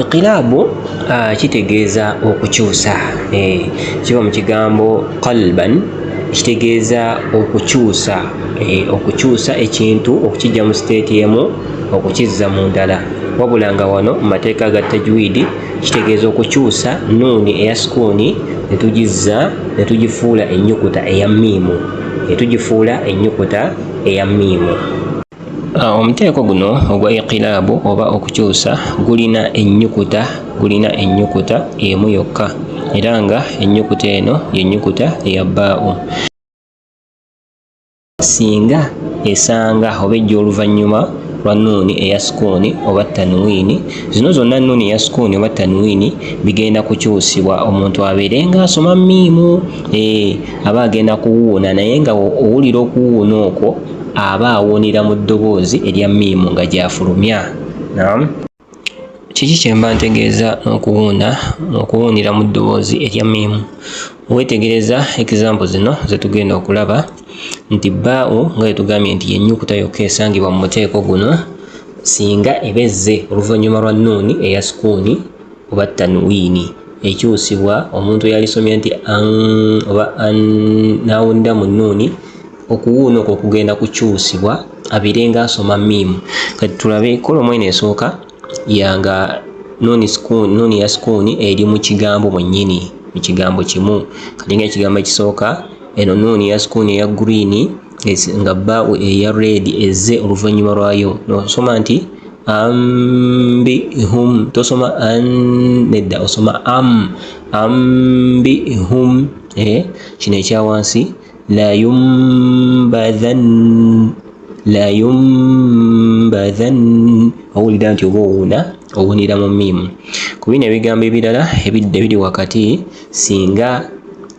Iqilaabu ah, kitegeeza okukyusa, eh, kiba mu kigambo qalban ekitegeeza okukyusa eh, okukyusa ekintu okukijja mu siteeti emu okukizza mu ndala wabula nga wano mu mateeka ga tajwidi kitegeeza okukyusa nuuni eya sukuuni ne tugizza ne tugifuula ennyukuta eya miimu ne tugifuula ennyukuta eya miimu Ah, omuteeko guno ogwa iqilaabu oba okukyusa gulina ennyukuta gulina ennyukuta emu yokka era nga ennyukuta eno yennyukuta eya baawo singa esanga oba ejja oluvannyuma lwa nuuni eya sukuuni oba tanwiini zino zonna nuuni eya sukuuni oba tanwiini bigenda kukyusibwa omuntu abeere ng'asoma miimu eh, aba agenda kuwuuna naye nga owulira okuwuuna okwo aba awuunira mu ddoboozi erya miimu nga gy'afulumya nam kiki kye mba ntegeeza n'okuwuuna okuwuunira mu ddoboozi erya miimu weetegereza ekizambo zino ze tugenda okulaba nti baawo nga yetugambye nti yennyukuta yokka esangibwa mu muteeko guno singa eba ezze oluvannyuma lwa nuuni eya sukuuni oba tanwiini ekyusibwa omuntu eyalisomye nti an oba an n'awulira mu nnuuni okuwuuna okwo okugenda kukyusibwa abeere nga asoma miimu kati tulabe kolomu eno esooka yanga nuuni ya sukuuni eri mu kigambo mwennyini mu kigambo kimu kati nga ekigambo ekisooka eno nuuni ya sukuuni eya guriini nga baawo eya red ezze oluvannyuma lwayo nosoma nti ambi hum tosoma an nedda osoma am ambi hum eh, kino ekya wansi layumbadhan layumbadhan owulira nti oba owuuna owunira mu miimu ku bino ebigambo ebirala ebidda ebiri wakati singa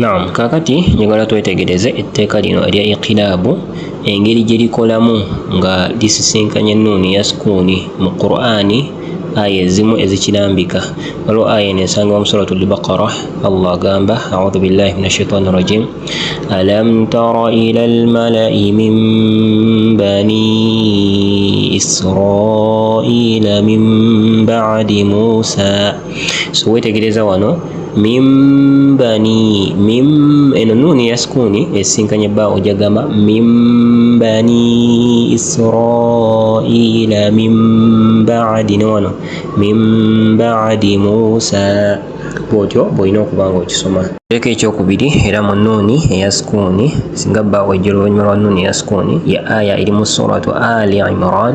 Naam, kaakati njagala twetegereze etteeka lino erya iqilaabu engeri gye likolamu nga lisisinkanya ennuuni ya sukuuni mu Qur'ani aya ezimu ezikirambika. Waliwo aya eno esangibwa mu suratu al-Baqara, Allah agamba audhu billahi min ashaitani rajim alam tara ila almalai min bani israila min ba'di musa so wetegereza wano mimbani mim eno nuuni ya sukuuni esinkanye ba ojagamba mimbani israila mimbaadi ne wano mimbaadi musa bwotyo bwolina okuba nga okisoma leka ekyokubiri era mu nuuni eya sukuuni singa ba ojja oluvannyuma lwa nuuni eya sukuuni ya aya eri mu suratu ali imran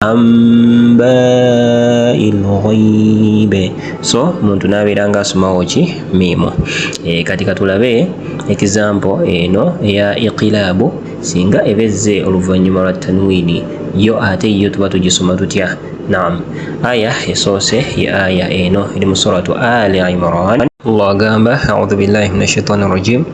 amba'il ghaib so omuntu nabeera nga asomawo ki miimu e, kati katulabe ekizampo eno eya iqilaabu singa ebezze oluvannyuma lwa tanwiini yo ate yo tuba tugisoma tutya naam aya esoose ye aya eno eri mu suratu ali imran allah agamba audhu billahi min ashaitani rajim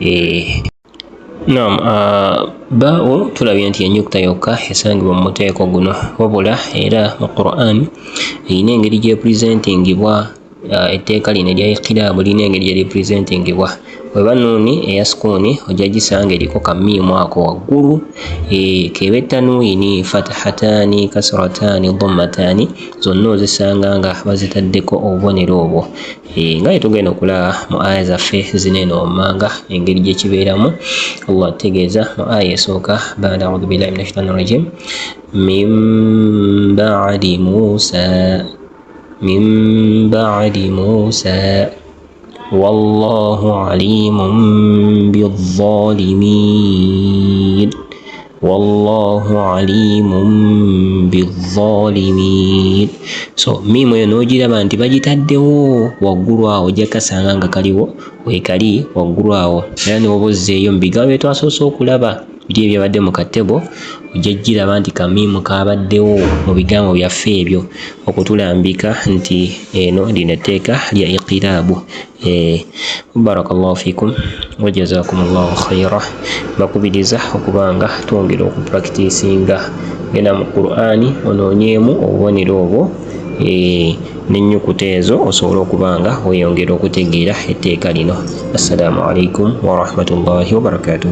eh, Naam, uh, baawo tulabye nti ennyukuta yokka esangibwa mu muteeko guno wabula era mu Qur'an erina engeri gyepresentingibwa uh, etteeka lino erya ikiraabu lirina engeri gye lipresentingibwa weba nuuni eya sukuuni ojja gisanga eriko kamiimu ako waggulu eh, keba ettanuini fatahataani kasrataani dhommataani zonna ozisanga nga bazitaddeko obubonero obwo Eh, nga yetugenda okulaba mu aya zaffe zino eno wammanga engeri gyekibeeramu allah tutegeeza mu aya esooka bada audu billahi min ashaitan rajim min badi musa min badi musa wallahu alimun bizalimin wallahu alimun bizalimin so miimu eyo n'ogiraba nti bagitaddewo waggulu awo ojja kasanga nga kaliwo wekali waggulu awo era newoba ozzeeyo mu bigambo bye twasoose okulaba biri ebyabadde mu katebo ojja giraba nti kamiimu kabaddewo mu bigambo byaffe ebyo okutulambika nti eno lino etteeka lya iqiraabu Eh, barakallahu fikum wajazakumullahu khaira bakubiriza okuba nga twongera okupractisinga genda mu qurani onoonyeemu obubonero obwo eh, n'ennyukuta ezo osobola okuba nga weyongera okutegeera etteeka lino assalamu alaikum warahmatullahi wabarakatuh